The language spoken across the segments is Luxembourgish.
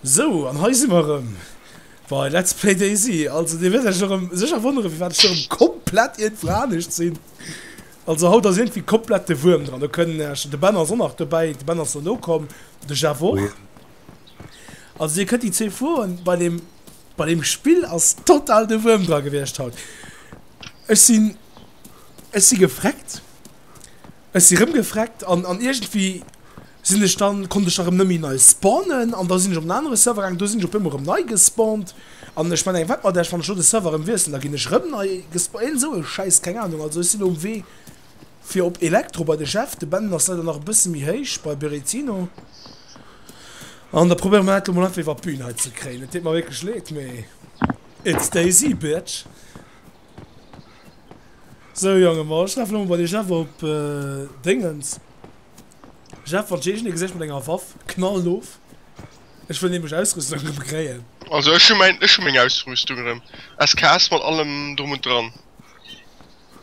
Sou, an hei si mer erëm bei Let's Play DayZ. Also Dir wäert Iech erëm sécher wonnere firwat ech erëm komplett iergendwou anescht sinn. Also haut ass iergendwéi komplett de Wuerm dran, lo kënnen ech, de Ben ass och nach dobäi, de Ben ass elo komm, de Jeff och. Also Dir kënnt déi zwee Froen bei deem. Bei dem Spill ass total de Wuerm dra gewiescht haut. Ech sinn, ech si gefreckt, ech si rëm gefreckt an an iergendwéi sinn ech dann, konnt ech da rëm net méi nei spawnen an da sinn ech op en anere Server gaang, do sinn ech op eemol rëm nei gespawnt an ech mengen, wat mat iech, wann ech elo de Server rëm wiesselen, da ginn ech rëm nei gespawnt, iergend esou e Schäiss, keng Ahnung. Also ech sinn elo um Wee. Fir op Elektro bei de Jeff, de Ben ass leider nach e bësse méi héich bei Berezino an da probéiere mer dat elo mol einfach iwwer d'Bün hei ze kréien. Et deet mer wierklech leed, mee it stays i bitch. Sou Jongen, ma ech laf elo mol bei de Jeff op Déngens. Jeff, wann d'Jeejen dee geséich mat enger Waff, knall of, ech wëll nämlech Ausrüstung erëm kréien. Also ech hu mäin, ech hu meng Ausrüstung erëm, SKS mat allem drum und dran.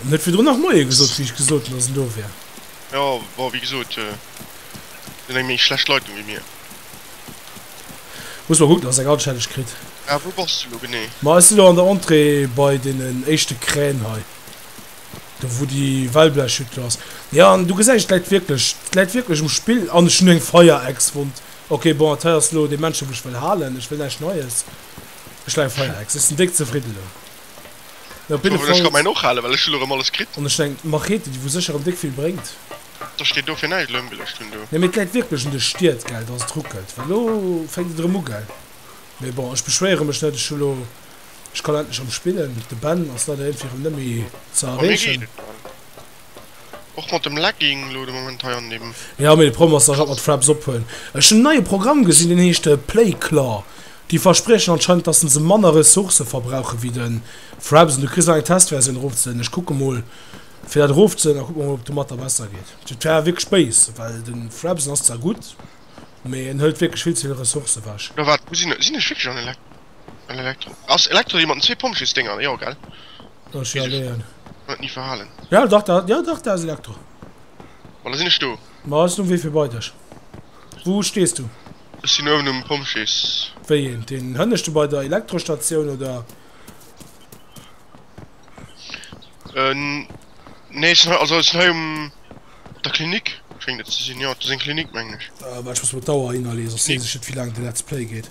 Hun net virdrun nach moie gesot wéi ech gesot hun dass en do wär. Jo bon wéi gesot et sinn eng méi schlecht Leitung wéi mir. Muss mol kucken dass eng anstänneg kritt. Ah wou bass du lo genee? Ma ech sinn lo an der Entrée bei deenen éischte Krän hei. Do wou déi Wellblechhütt ass. Jo an du gesäis et läit wierklech, et läit wierklech um Spill an ech hunn eng Fire-Ex wond. Ok bon dat hei ass lo dee Männchen wou ech wëll halen, ech wëll näischt Neies. Ech leien feier Ex, ech sin déck zefridden elo. Mee op jidde Fall. Ech ka mäin och halen, well ech hun elo rem alles kritt. An ech hun eng Machete, déi wou sécher rem déck vill bréngt. Da steet do fir näischt elo ëmgeluecht hun do. Nee mee et läit wierklech un de Stied gell dass et ruckelt well lo fänkt et erëm u gell mee bon ech beschwéiere mech net ech hu lo ech kann endlech erëm spillen de Ben ass leider iergendwéi erëm net méi ze erreechen. Och mat dem Legging lo de Moment hei an dem. Jo, mee de Problem ass, dass ech alt mat Fraps ophuelen. Ech hunn en neie Programm gesinn, deen heescht Playclaw. Déi verspriechen anscheinend, dassen se manner Ressourcë verbrauche wéi de Fraps. An du kriss nach eng Testversioun erofzeladen. Ech kucke mol fir dat erofzeladen a kucke mol, ob domatter besser geet. Dat wär wierklech béis, well de Fraps, en ass zwar gutt, mee en hëlt wierklech vill ze vill Ressourcë wech. Oder wat? Sinn ech wierklech an e Legging? Eng Elektro. Ass Elektro déi mat den zwee Pompjeesdénger? Jo, gell? Dat ass jo Wéi se- alleguer. Huet ni verhalen. Ja dach, dat, jo dach, dat ass Elektro. Bon, da sinn ech do. Ma ass den Wee fir bei dech? Wou stees du? Ech sinn uewen um Pompjees. Wéi een? Deen hënneschte bei der Elektrostatioun, oder? Äh, nee, ech sinn hei, also ech sinn hei um, op der Klinik schéngt et ze sinn. Jo, do ass eng Klinik, mengen ech. Ah, waart, ech muss mol d'Auer hinnerleeën, soss sees ech net wéi laang de Let's Play geet.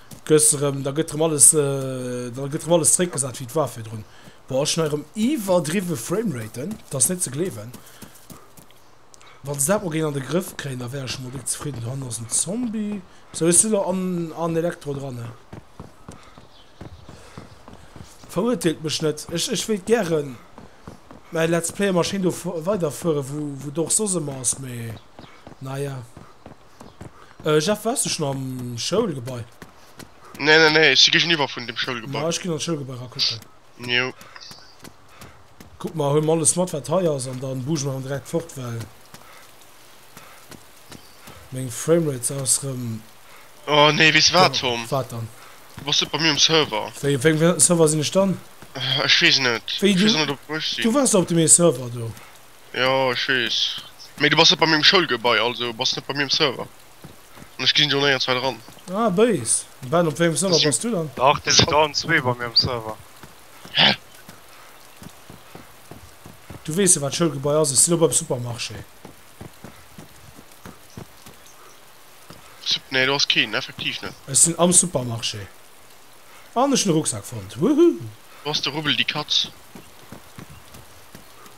Gëss erëm, da gëtt erëm alles, da gëtt erëm alles zréckgesat wéi et war virdrun. Boah, ech hun hei erëm iwwerdriwwe Frameraten, et ass net ze gleewen. Wann se dat mol géing an de Grëff kréien, da wär ech emol déck zefridden. Do hannen ass en Zombie, sou hues du lo an an Elektro dran, ne? Verurteelt mech net, ech ech wéilt gären mäi Let's Player Maschinn do weiderfuere wou wou d'Org soss ëmmer ass, mee naja. Äh, Jeff, wars du schon am Schoulgebai? Nee, nee, nee, ech si géigeniwwer vun dem Schoulgebai. Ma, ech ginn an d'Schoulgebai ra kucken. Jo. Kuck mol, huel mol alles mat, wat hei ass, an dann buge mer erëm direkt fort, well meng Framerate se ass erëm. Oh nee, weess de wat, Tom? Wat dann? Du bass net bei mir um Server. Wéi, op wéngem Server sinn ech dann? Ech weess net. Wéi, du. Ech weess och net, op wou ech sinn. Du wars op deem ee Server do. Jo ech wees, mee du bass net bei mir um Schoulgebai, also bass net bei mir um Server an ech ginn jo néierenzweit eran. Ah béis. Ben op wéngem Server bass du dann? Dach dir sidd allen zwee bei mir um Server. Hä? Du weess jo wat Schoulgebai ass, ech si lo beim Supermarché. Sup, nee do ass keen, effektiv net. Ech sinn am Supermarché an ech hunn e Rucksak fonnt, wouhou. Do ass de Rubbel déi Katz.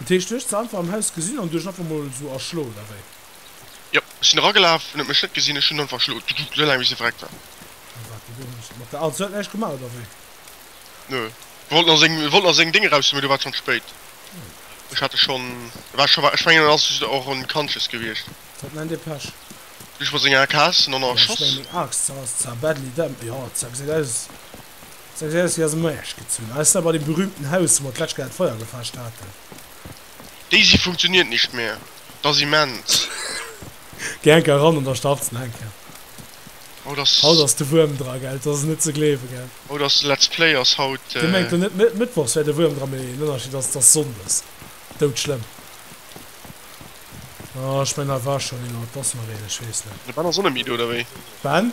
Dat heescht du hues se einfach am Haus gesinn an du hues einfach mol sou erschlo oder wéi? Jo, ech sinn eragelaf, en huet mech net gesinn, ech hunn einfach erschlo, sou laang bis hie verreckt war. A wat huet hien mat der Aal? Se huet näischt gemaach oder wéi? Nö, e wollt nach seng, e wollt nach seng Déng eraushuelen, mee do war et schonn spéit. Ech hat e schonn, e war scho, ech mengen en ass just och unconscious gewiescht. Dat nennt ee Pech. Du hues mat senger Aak, haas en och nach erschoss? Ech mengen, meng Aak, ça, ça badly damn, jo, ça gesäit aus. Seng Jealousy ass ëmmer Äscht gezunn, eis da bei dem berühmten Haus, wou mer d'lescht Kéier d'Feier gefaascht haten. Daisy funktioniert nicht mehr, et ass immens. Geh enker eran an da starts en enker. Haut ass de Wuerm dra, gell? Et ass net ze gleewe, gell? Haut ass de Let's Play ass haut. Dee mengt lo net Mëttwochs wär de Wuerm dra, mee den Ënnerscheed ass, et ass Sonndes. Dout schlëmm. Oh, ech mengen, da war schonn een, oder et ass nach een, ech weess net. De Ben ass och net méi do, oder wéi? Ben?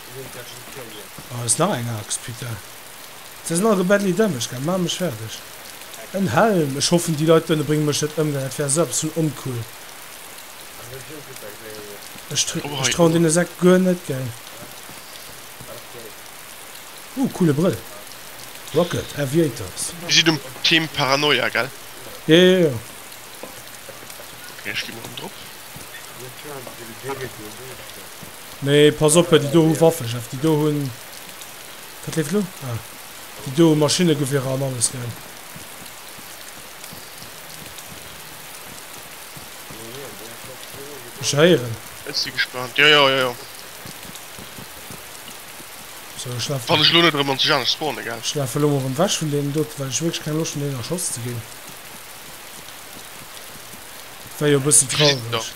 Aah ass nach eng Axt putain. Se sinn all go badly damaged gaang, maan mech färdeg. En Helm, ech hoffen déi Leit dohinne bréngen mech net ëm, well dat wär esou eppes vun oncool. Ech trauen deene Sekt guer net gell. Ooh coole Brëll, Rocket Aviators. Dir sidd um Team Paranoia gell? Jo jo jo. Ok ech gi mol ëm drop. Nee, pass op, déi do hu Waffen, Jeff. Déi do hunn. Wat leeft elo? Ah. Déi do hu Maschinnegewierer an alles, gell? Ech héieren. Ech si gespaant. Jo, jo, jo, jo. So, ech laf. Wann ech lo net erëm an Tijanech spawnen, gell? Ech lafe lo mol erëm ewech vun deenen dote, well ech wierklech keng Loscht hunn, deenen erschoss ze ginn. Dat wär jo e bëssen traureg.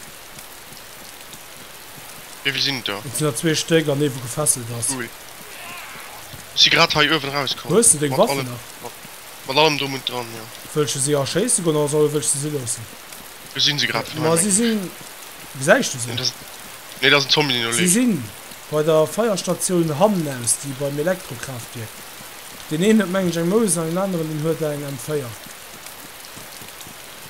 Wéivill sinn et der? Et sinn der zwee Stéck an ee wou gefesselt ass. Cool. Ech si grad hei uewen erauskommen. Hues de deng Waffen nach? Mat allem drum und dran, jo. Wëll ech se si erschéisse goen oder soll wëll ech se si loossen? Do sinn se grad vun hei. Ma si sinn. Gesäis du se? Nee, dat ass en Zombie deen do leeft. Si sinn bei der Feierstatioun hannen aus, déi beim Elektrokraftwierk. Deen een huet mengen ech eng Mouse an deen aneren deen huet eng M4.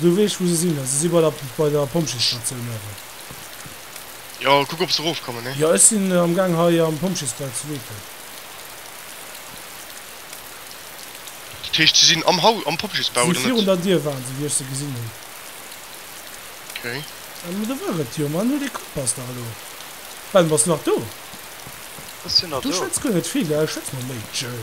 Du weess wou se sinn, se si bei der bei der Pompjeesstatioun awer. Jo, kuck op se erof kommen ne. Jo ech sinn am gang hei am Pompjeesbau ze weeten. Dat heescht se sinn am Haus am Pompjeesbau oder net? Virun der Dier waren se wéi ech se gesinn hunn. Ok. Mä do war et jo, mä an hir dee Kompass dach elo. Ben bass nach do? Ech sinn nach do. Du schwätz guer net vill, schwätz mol méi. Tjëll.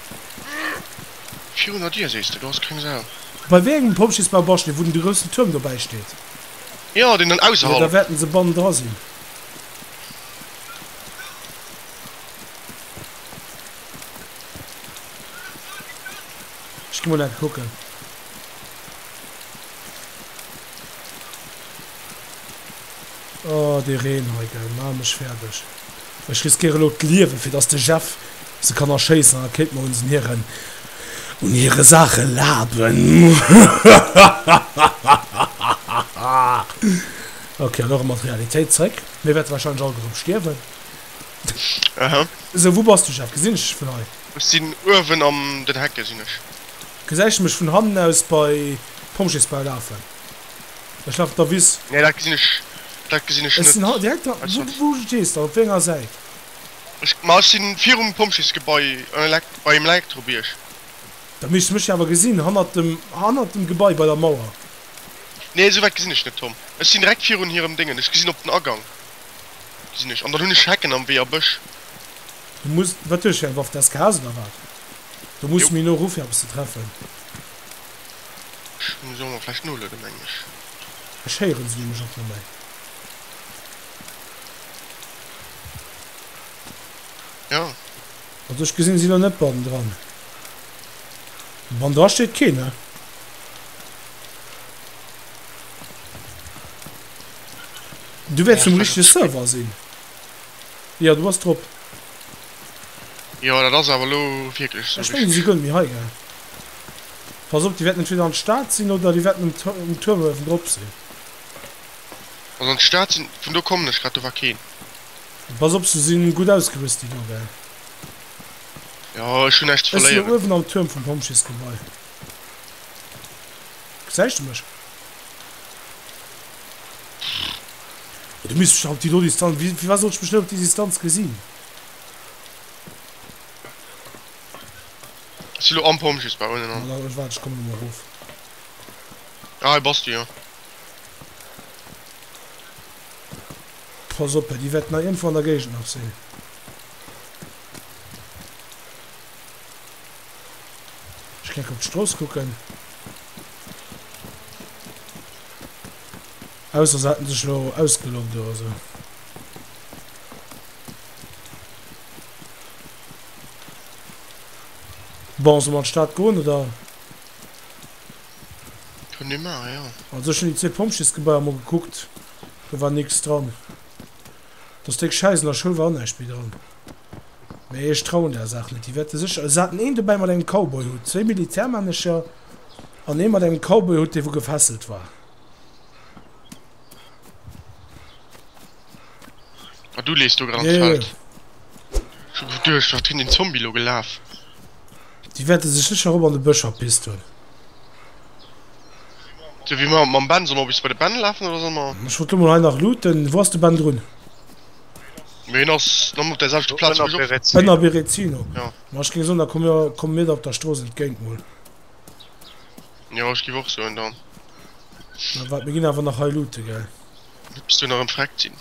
Virunner dir sees de, do ass keng Sau. Bei wéi engem Pompjeesbau bass de, wou den de groussen Tuerm dobäi steet? Jo, deen dann ausserhalb. Jo, da wäerten se bannen dra sinn. Ech gi mol enke kucken. Oh, dee Reen hei, gell, maach mech fäerdeg. Ech riskéiere lo d'Liewen, fir dass de Jeff se kann erschéissen, an da kéinte mer uns un hiren, un hire Saache laben. Hahahahahahaha. Ok, an och emol d'Realitéit zréck. Mir wäerte wahrscheinlech alleguerem stierwen. Aha. Sou, wou bass du, Jeff? Gesinn ech dech vun hei? Ech sinn uewen an den Hecke sinn ech. Gesäis de mech vun hannen aus bei Pompjeesbau lafen? Ech awer der Wiss. Nee dat gesinn ech dat gesinn ech net. Ech sinn haut direkt da. Wou stees de op wéi enger Säit? Ech ma ech sinn virum Pompjeesgebai bei dem Elektrobierg. Da misst de mech jo awer gesinn hannert dem hannert dem Gebai bei der Mauer. Nee esou wäit gesinn ech net Tom. Ech sinn direkt virun hirem Déngen. Ech gesinn op den Agang gesinn ech an dann hunn ech Hecken am Wee a Bësch. Du muss wat hues fir eng Waff? Des KS oder wat? Do muss de méi no erof fir eppes ze treffen. Ech muss och mol vläicht nolueden, mengen ech. Ech héieren se nämlech och net méi. Jo. Also ech gesinn si lo net bannendran. Bannendra steet keen, ne? Du wäerts um richtege Server sinn. Jo, du bass drop. Jo, dat ass awer lo wierklech sou. Ech mengen si goen méi hei, gell? Pass op, déi wäerten entweder an d'Stad sinn oder déi wäerten um Tuerm uewendrop sinn. Also an d'Stad sinn, vun do kommen ech grad, do war keen. Pass op, se sinn gutt ausgerüst, déi do, gell? Jo, ech hunn näischt ze verléieren. Ech sinn do uewen am Tuerm vum Pompjeesgebai. Gesäis de mech? Pff. Du misst mech dach op déi do Distanz, firwat sollt ech mech net op déi Distanz gesinn? Ech si lo am Pompjeesbau unnen an. Ech waarden, ech kommen elo erof. Ah, hei bass du jo. Pass op, déi wäerten nach iergendwou an der Géigend nach sinn. Ech geng op d'Strooss kucken. Ausser se hätten sech elo ausgeloggt oder esou. Bon, solle mer an d'Stad goen, oder? Kënnen ee maachen, jo. Also ech hunn déi zwee Pompjeesgebaier mol gekuckt, do war nix dran. Dass déck Schäiss an der Schoul war och näischt méi dran. Mee ech trauen där Saach net, déi wäerte sécher, se haten een dobäi mat engem Cowboyhutt, zwéi Militärmännecher an ee mat engem Cowboyhutt, dee wou gefesselt war. Ah, du lees do grad ans Feld. Yeah. Schon geduercht, wat hin den Zombie lo gelaf. Déi wäerte sech sécher erop an de Bësch erpisst hunn. So wie mer mam Ben, soll mer bis bei de Ben lafen oder soll mer. Ech wollt lo mol hei nach looten. Wou ass de Ben drun? Mee hin ass nom op der selchte Platz wou ech op. Ënner Berezino. Ja. Ma ech géing soen, da komme mir, komme mir der op der Strooss entgéint mol. Jo, ech giff och soen dann. Mä waart, mir ginn awer nach hei loote, gell? Hues du nach en Freck gin?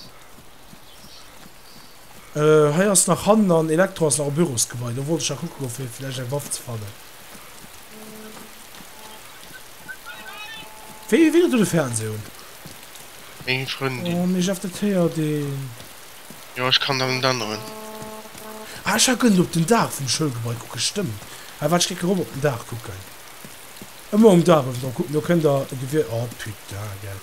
Euh hei ass nach hannen an Elektro ass nach am Bürosgebai, do wollt ech nach kucken goen fir vläicht eng Waff ze fannen. Wéi winkelt do de Fernseh un? Meng Frëndin. Oh mee Jeff dat héiert een. Jo ech kann dann en anneren. Ah ech war gëllen op den Daach vum Schoulgebai kucken, stëmmt ah waart ech geck erop op den Daach kucken. Ëmmer um Daach ewen drop kucken, do kënnt der e Gewier, oh putain gell.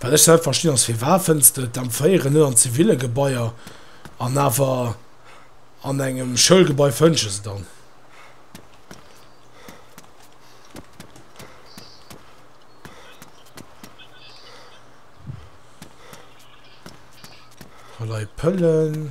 Wat ech net verstinn ass firwat fënns de d'Empféieren net an ziville Gebaier an awer an engem Schoulgebai fënns de se dann? Vallei Pëllen.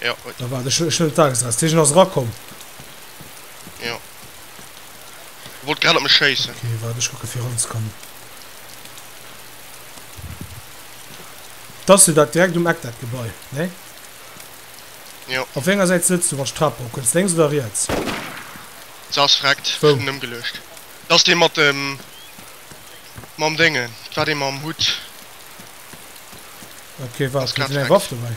Ja, ui. Da war de Sch Schëld da gesat. Dat heescht, en ass erakomm. Ja. E wollt grad op mech schéissen. Okay, waart, ech kucke fir eranzekommen. Dat ass jo dat direkt um Eck, dat Gebai, nee? Jo. Op wéi enger Säit sëtz du, wann ech d'Trap erokënns, lénks oder riets? Se ass vreckt. Ech Wou? hunn en ëmgeluecht. Dat ass dee mat dem, mam Déngen. Dat war dee mam Hutt. Okay, waart, Ass grad huet en eng Waff vreckt. dobäi?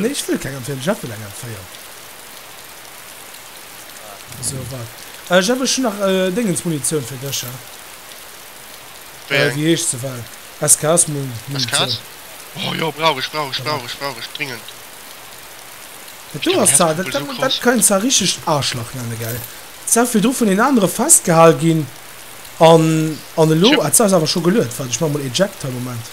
Nee, ech wëll keng Empféierung. Jeff wëll eng Empféierung. Sou, wart. Äh, Jeff, ech hunn nach Déngensmunitioun fir dech, ha. Wéi eng? Wéi heescht se? Well SKS-Munitioun. SKS? Oh jo, brauch ech, brauch ech, brauch ech, brauch ech dringend. Dat do ass zwar, dat kann een zwar richteg Aarschlach nennen, gell? Zwar virdru vun een anere festgehal ginn an, an elo, ah, zwar ass awer scho geluet. Wart, ech maache mol eject hei, Moment.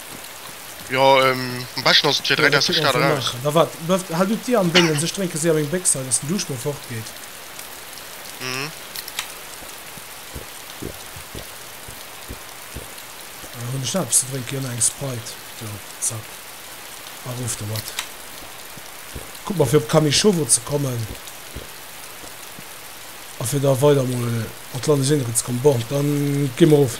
Jo ehm am beschten ass et fir 3 Deg aus der Stad eraus. Na wat, befft hal du d'Dir am Déngens, ech drénke séier meng Béchs hei, dass den Duuscht mol fort geet. Mhm. Hunn ech nach eppes ze drénken? Jo, nach eng Sprite. Jo, zack, erof domat. Kuck mol fir op Kamischowo ze kommen a fir da weider mol an d'Landesinnere ze kommen. Bon, dann gi mer erof.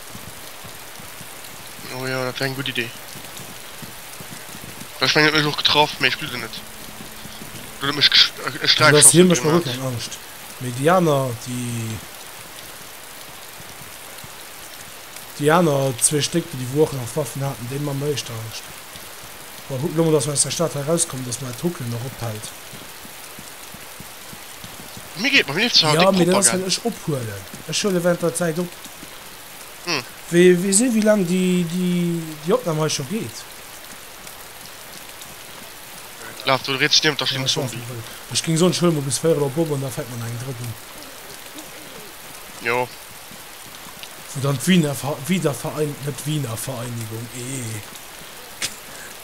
Oh ja, dat war eng gutt Idee. Ech meng, et huet mech och getraff, mee ech gleew der net. Oder et mech gesch e An Sträichschoss dofir mécht mer guer gemaat. keng Angscht, mee déi aner, déi, déi aner zwee Stéck, déi wou och nach Waffen haten, déi man mer éischter Angscht. Bon, kucken elo mol, dass mer aus der Stad hei rauskomm, dass mer dat Ruckelen nach ophält. Mir geet mam Lift ja, mee dat ass well ech ophuelen, ech huele während der Zäit op. Wee si wéi laang déi déi Opnam hei scho geet. Laf do riets niewent der Schling Zombie. Ech géing soen ech huele mol bis 4 op op an da fänkt mer nach eng drëtt un. Jo. Wou dann d'Wiener Wiederverein net Wiener Vereinigung ee.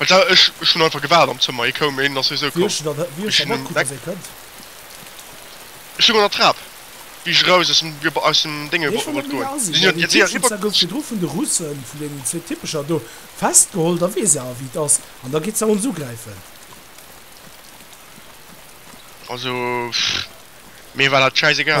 Ech hun einfach gewaart am Zëmmer, hie koum, hien ass sowieso komm. Ech stung an der Trap, wéi ech eraus aus dem Dinge wollt goen. Si sinn jo direkt eriwwer. Also, mir war dat schäiss egal.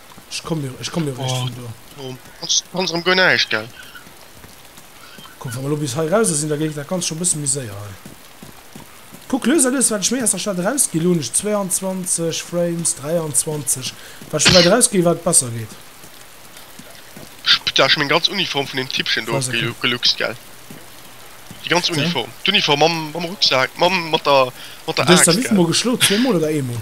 Ech komm jo, ech komm jo réischt vun do. Oh, ass ganz erëm guer näischt, gell? Komm, wa mer elo bis hei erauser sinn, da géif dat Ganzt scho e bësse méi séier hei. Kuck lues a lues, wat ech méi aus der Stad erausginn. Elo hunn ech 22 Frames, 23. Wat ech méi wäit erausginn, wat besser geet. Putain, ech hu meng ganz Uniform vun deem Tippchen do geluxt, gell? Déi ganz Uniform. D'Uniform mam Rucksak, mam, mat der Aaxt, gell? Du hues der wéi vill mol geschloen? Zweemol oder eemol?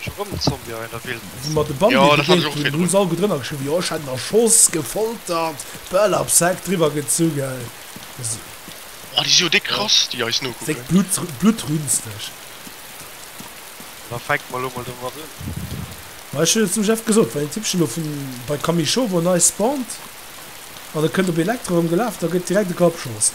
Scho rëm en Zombie an der Wildnis. Wou mer de Bambi begéint hunn, hu se alleguer drënner geschriwwen, jo ech hätt en erschoss, gefoltert, Bäll am Sack driwwer gezunge. Oh déi si jo déck krass déi eis nokucken. Déck blutrünsteg. Da fänkt mer elo mol domat un. Ma ech hunn et dem Jeff gesot, wann een Tippchen elo vun bei Kamischowo nei spawnt an e kënnt op Elektro erëm gelaf, da gëtt direkt e Grapp geschoss.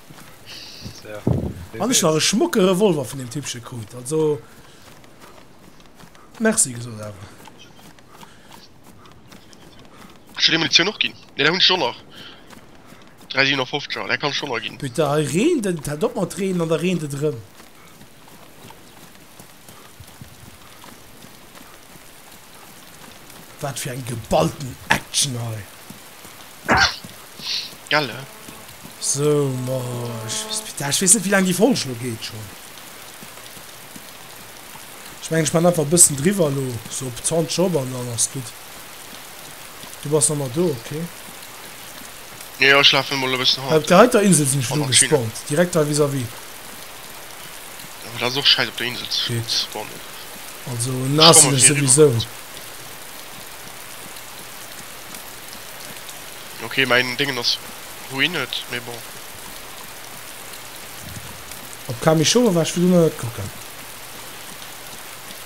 An ech nach e schmucke Revolver vun dem Tippche krut, also Merci gesot awer. Hues du déi Munitioun och ginn? Nee, dat hunn ech scho nach. 3 57er, dat kann ech scho nach ginn. Putain, hei reent et, et hält op mat reenen an da reent et erëm. Wat fir eng geballten Action hei. Gell, eh? So, ma, ech weess net, wéi laang déi Folg lo geet schonn. Ech mengen, ech maachen einfach e bëssen driwwer elo, sou op 20 Job, an dann ass gutt. Du bass nach mat do, ok. Jo, jo, ech lafen emol e bëssen hanner. Op der heiter Insel sinn ech elo gespawnt, direkt hei vis-à-vis. Jo, dat ass och scheiss op der Insel ze spawnen. Also naass sinn ech souwisou. Ok, mäin Déngen ass ruined, mee bon. Op Kamichoura war ech virdu nach net kucken.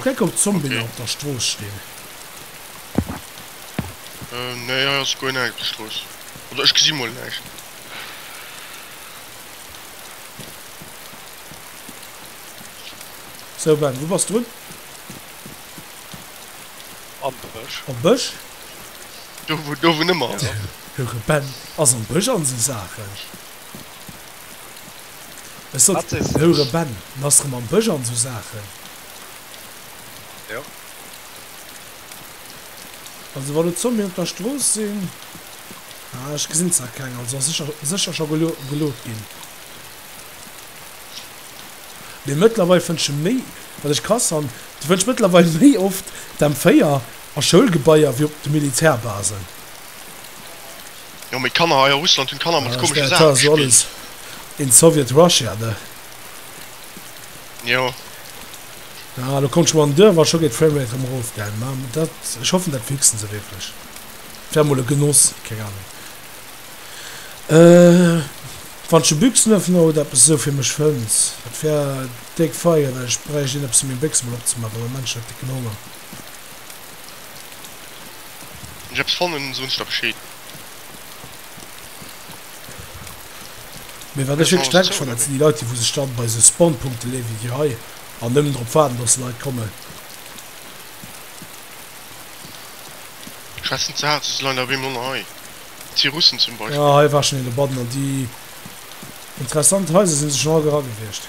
Kuck op d'Zombien op der Strooss stinn. Nee hei ass guer näischt op der Strooss. Oder ech gesi mol näischt. Sou Ben, wou bass drun? Am Bësch. Am Bësch? Do wou do wou nëmmer ass. De Ben ass am Bësch an esou Saachen. Ech sot, Heure Ben, en ass rem am Bësch an sou Saachen. Jo. Also wann do Zombien op der Strooss sinn, ah ech gesinn zwar keng, also ass sécher sécher scho gelo geloodt ginn. Mee mëttlerweil fënnt ech e méi, wat ech krass fannen, du fënns mëttlerweil méi oft d'M4 a Schoulgebaier wéi op de Militärbasen. Jo mee Kanner hei a Russland hunn Kanner mat komesche Saachen gespillt. In Soviet Russia ne. Jo. Ah, lo kommt schon mal Dörr, war schon geht Framerate am Rof geil. Mam dat ich hoffen dat fixen se wirklich. Wär mol e Genoss, keine Ahnung. Äh, wann schon Büchsenöffner oder etwas so für mich fënns, dat wär déck feier, well ich bräucht een etwas fir meng Büchse mol opzemachen, am Moment schon décken Honger. Wann ech eppes fannen soen ech der Bescheed. Mee wat ech wierklech denken schon dat sinn déi Leit déi wou sech dann bei sou Spawnpunkten leeën wéi déi hei an nëmmen drop waarden dass Leit kommen. Schwätzen ze haart, se si leider op eemol ënner hei. Et si Russen zum Beispill. Ah hei war schon een dobannen an déi interessant Heiser sinn se schon all era gewiescht.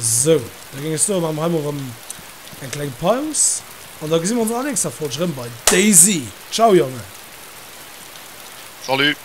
Sou, da géing ech soen, maache mer hei mol erëm eng kleng Paus an da gesi mer ons an der nächster Folg erëm bei DayZ. Ciao Jongen! Salut!